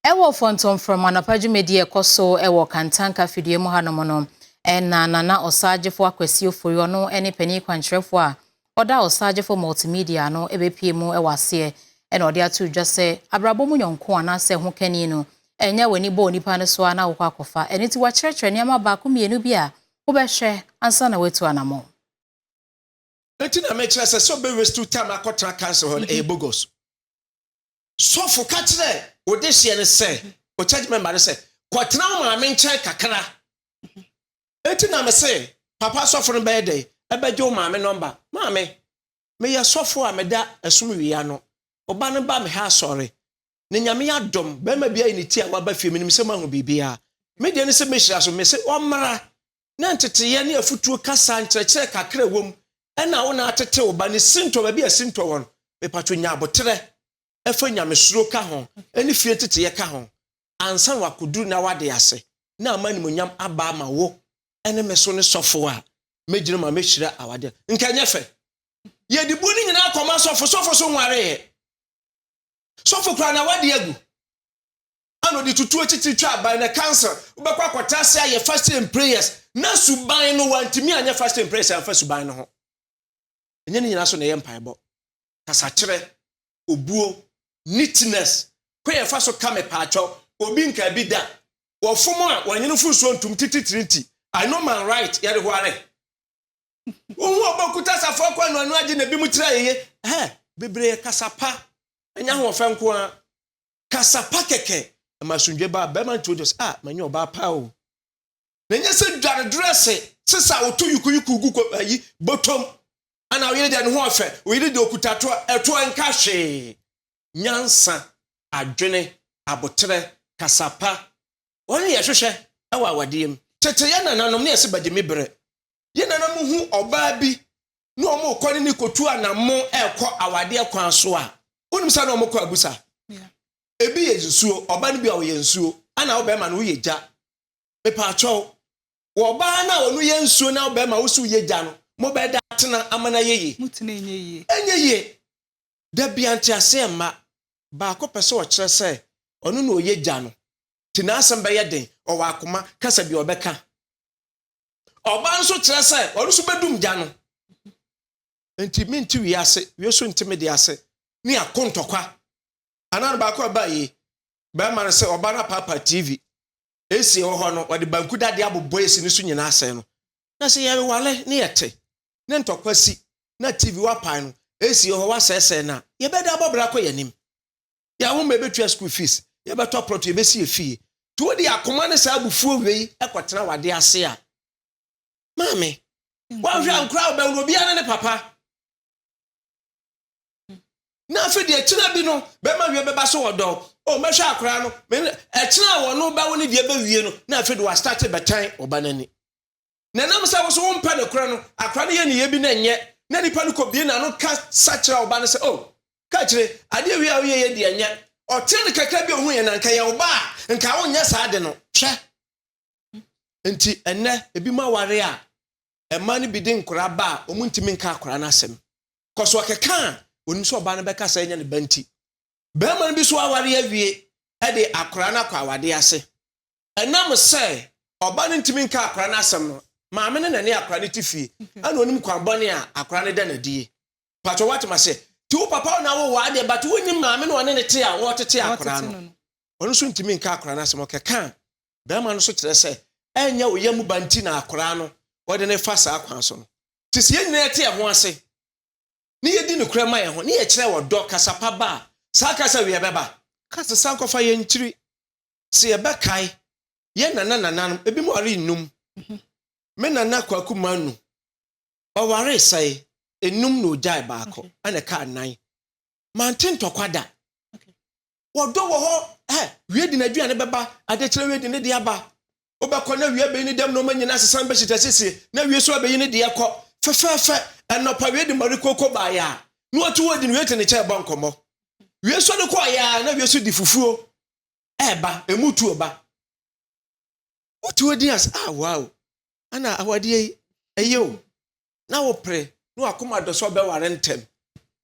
Wɔ Fɔntɔm Frɔmm anɔpa dwumadi a ɛkɔ so wɔ Kantanka fidua mu hanom no, na Nana Ɔsaagyefo Akwasi Ofori, ɔno ne panin kwankyerɛfo a ɔda Ɔsaagyefo Multimedia ano, bepue mu wɔ aseɛ na ɔde ato dwa sɛ abrabɔ mu yɔnko anaasɛ hokani no, ɛnyɛ w'ani bɔ onipa no so ara na wokɔ akɔfa. Ɛno nti wakyerɛkyerɛ nneɛma baako mmienu bi a wobɛhwɛ ansa na woatu anamɔn. Enti na mekyerɛ sɛ sɛ ɔbɛ waste time akɔtra council hɔ no ɛyɛ bogus. sɔfo ka kyerɛɛ wo dehyeɛ no sɛ, wo church member no sɛ, kɔtena wo maame nkyɛn kakra. Eti na me se, papa sɔfo no bɛyɛ dɛn? Ɛbɛgye wo maame nɔmba. Maame, meyɛ sɔfo a meda ɛsom wie ano. Wo ba no ba me ha asɔre. Na Nyame adom, bɛrima bi ayi ne ti a waba fie, menim sɛ moahu biribiara. Me deɛ ne sɛ mɛhyira so. Me se ɔmmra, na nteteeɛ ne afutuo kasa nkyerɛkyerɛ kakra a ɛwom na wo na atete wo ba ne sintɔ baabi a sintɔ wɔ no, mepatwo nya aboterɛ fa nyamesuro ka ho ne fie nteteeɛ ka ho ansa na wakɔduru na wade ase na ama animonyam aba ama wo ne me so ne sɔfo a mɛgyina ma mɛhyira awadeɛ nka nyɛ fɛ yɛde bu no nyinaa kɔma sɔfo sɔfo so nwareeɛ sɔfo kora na wade agu a na ɔde tutu atitiri twa aban na council wobɛkɔ akɔtra ase ayɛ fasting and prayers na suban no wantumi anyɛ fasting and prayers amfa suban no ho ɛnyɛ ne nyinaa so na ɛyɛ mpaebɔ kasakyerɛ obuo neatness kɔ yɛ fa so ka me paatwɔ obi nka bi da wɔfom a wɔnyɛ no fo nsuo ntom tititiri nti I know my right yɛde ho are wohu ɔbɛkuta asafo akɔ ano ano agye na ebi mu tira yeye ɛhɛ bebree kasa pa ɛnyɛ ahoɔfɛ nko ara Kasa pa kɛkɛ. Ɛma asomdwoe baa barima no tirim. Ɔte sɛ, 'Ah, manya ɔbaa pa o! Na ɛnyɛ sɛ dware drɛse, sesa a wɔto yukuyuku gu ayi, bɔtɔm. Ana wo yere deɛ ne ho yɛ fɛ? Wo yere deɛ ɔkuta toa. Ɛtoɔ nka hwee. Nyansa, adwene, aboterɛ, kasa pa, wɔn na yɛhwehwɛ wɔ awadeɛ mu. Tete yɛn nananom na yɛse bɛgye me berɛ. Yɛn nananom hu ɔbaa bi na wɔn rekɔ ne ne kotu anammo rekɔ awadeɛ kwan so a wonim sɛ na wɔn kɔ abusa ebi yɛ nsuo ɔbaa no bi a ɔyɛ nsuo ɛna ɔbɛrima no woyɛ gya mepaakyɛw wɔ ɔbaa no a ɔno yɛ nsuo na ɔbɛrima wosi woyɛ gya no mo bɛɛ da atena ama na yɛ yie ɛnyɛ yie dabi anteaseɛ mma baako pɛ sɛ ɔkyerɛ sɛ ɔno na ɔyɛ gya no te n'asɛm bɛyɛ den ɔwɔ akoma kasa bi ɔbɛka Ɔba nso kyerɛ sɛ ɔno nso bɛdum gya no. Nti mente wie ase, wie nso nte me de ase. Ne ako ntɔkwa. Anaa no baako a ɛbaa yi, bɛrima no sɛ ɔba no apaapa TV. AC ɛwɔ hɔ no, ɔde banku dadeɛ abobɔ AC no so nyinaa asɛe no. Na sɛ yɛrewale na yɛte na ntɔkwa si na TV woapae no, AC wɔ hɔ woasɛesɛe no a, yɛbɛdan abɔ bra kɔ yɛn anim. yɛn ahoma, yɛbɛtua school fees, yɛbɛtɔ plot, yɛbɛsi efie. Nti wode akoma ne saa abufuo wei kɔtena w'adeɛ ase a, maame, woanhwɛ ankora a wobɛwo no, obiara ne ne papa. Na afei deɛ ɛkyena bi no, bɛma wie bɛba so wɔ dɔ o, oh, mɛhwɛ akora no, ɛkyena a wɔno bɛwo no deɛ bɛwie no, na afei de wɔastate bɛtan ɔba no ani. na ɛnam sɛ wo nso wompɛ nokorɛ no, akora no yɛ nneyɛɛ bi na ɛnyɛ, na nipa no kɔbue n'ano kasa kyerɛ wo ba no sɛ, O, ka akyire, adeɛ wei a woyɛeɛ deɛ ɛnyɛ, ɔtee no kakra bi a ɔhuuiɛ, na nka ɛyɛ wo ba a, nka wonyɛ saa ade no. Hwɛ! Enti ɛnnɛ, ebinom aware a, mmaa no bi de nkora ba a, wɔntumi nka akora no asɛm. Kɔ so keka a, wɔnim sɛ ɔbaa no bɛka sɛ ɛnyɛ ne ba nti. Barima no bi nso aware awie de akora no akɔ awadeɛ ase. Ɛnam sɛ ɔba no ntumi nka akwadaa no asɛm no, maame no na ɛne akwadaa no te fie, ɛna ɔnim kwan bɔne a akwadaa no da no adi yi. Patro wate ma se, te wo papa wo na wo waa deɛ, but wonnim maame no ɔne ne te a wɔtete akwadaa no. Ɔno nso ntumi nka akwadaa no asɛm, ɔkeka barima no so kyerɛ sɛ ɛnyɛ wo yam ba nti na akwadaa no wɔde no fa saa kwan so no. Te sɛ yɛn nyinaa yɛte yɛn ho ase ne yɛdi nokorɛ ma yɛn ho, ne yɛkyerɛ ɔdɔ, kasa pa ba a, saa kasa wieɛ bɛba. Ka sesa nkɔfa yɛn nkyiri. Sɛ yɛbɛkae yɛn nana nananom, ebinom waree nnum. Me nana Kwaku Manu, ɔwaree sɛe? Nnum na ogyae baako, ɛna ɛkaa nnan. Mante ntɔkwa da. Wɔdɔ wɔ hɔ, hɛ, wie de n'aduane bɛba, adekyerɛ wie de ne deɛ aba. Wobɛkɔ na wie abeyi ne dɛm nneɛma nyinaa asesa bɛhyɛ gya siesie, na wie nso abeyi ne deɛ kɔ. Fɛfɛɛfɛ, anɔpa wie de Marie Coco baeɛ a, na watu hɔ di no, wie te ne kyɛɛ bɔ nkɔmmɔ. Wie nso de kɔeɛ a, na wie nso di fufuo. ɛɛba, ɛmu tuo ba. Wotuo din ase, ah wow, ana awadeɛ yi ɛyɛ o. Na wopere, na wakoma dɔ sɛ ɔbɛware ntɛm.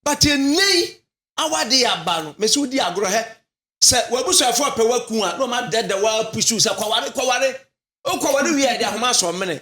But ɛnɛ yi, awadeɛ aba no, mese wodi agorɔ hɛ. Sɛ w'abusuafoɔ pɛ waku a, na wɔn adɛdɛ wɔn apusu sɛ kɔware, kɔware. Wokɔware wie a, ɛde ahoma asɔ mene.